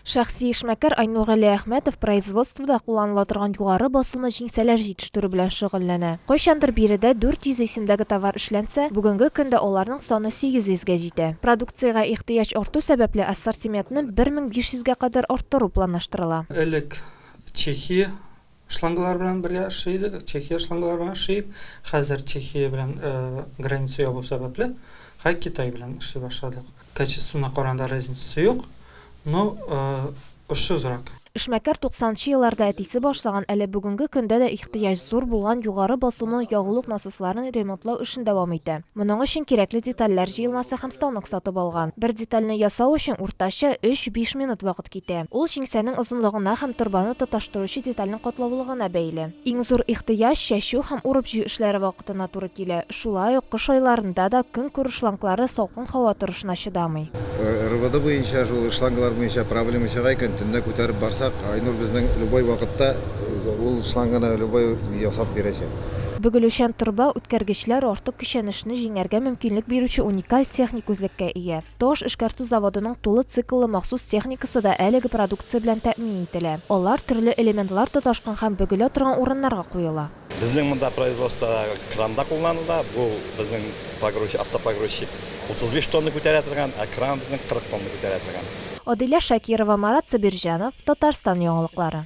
Шәхси эшмәкәр Айнур Галиәхмәтов производствода кулланыла торган югары басымлы җиңсәләр җитештерү белән шөгыльләнә. Кайчандыр биредә 400 исемдәге товар эшләнсә, бүгенге көндә аларның саны 800 гә җитә. Продукциягә ихтыяҗ арту сәбәпле, ассортиментны 1500 гә кадәр арттыру планлаштырыла. Элек Чехия Шлангалар белән бергә эшли идек, Чехия шлангалар белән эшлик. Хәзер Чехия белән граница ябу сәбәпле, хай Китай белән эшли башладык. Качествына караганда разницасы юк, но очсызрак. Эшмәкәр туксанынчы елларда әтисе башлаган, әле бүгенге көндә дә ихтыяҗ зур булган югары басымлы ягулык насосларын ремонтлау эшен дәвам итә. Моның өчен кирәкле детальләр җыелмасы һәм станок сатып алган. Бер детальне ясау өчен уртача өч-биш минут вакыт китә. Ул җиңсәнең озынлыгына һәм торбаны тоташтыручы детальнең катлаулылыгына бәйле. Иң зур ихтыяҗ чәчү һәм урып-җыю эшләре вакытына туры килә. Шулай ук кыш айларында да көнкүреш шланглары салкын һава торышына чыдамый. РВД буенча шул шланглар буенча проблема чыга икән, төнлә күтәреп барсак, Айнур безнең любой вакытта ул шланганы любой ясап бирәчәк. Бөгелүчән торба үткәргечләр артык көчәнешне җиңәргә мөмкинлек бирүче уникаль техник үзлеккә ия. Таш эшкәртү заводының тулы цикллы махсус техникасы да әлеге продукция белән тәэмин ителә. Алар төрле элементлар тоташкан һәм бөгелә торган урыннарга куела. Безнең монда производстводагы кран да кулланыла. Бу безнең погрузчик, автопогрузчик 35 тонна күтәрә торган, ә кран безнең 40 тонна күтәрә торган. Адилә Шакирова, Марат Сабирҗанов, Татарстан яңалыклары.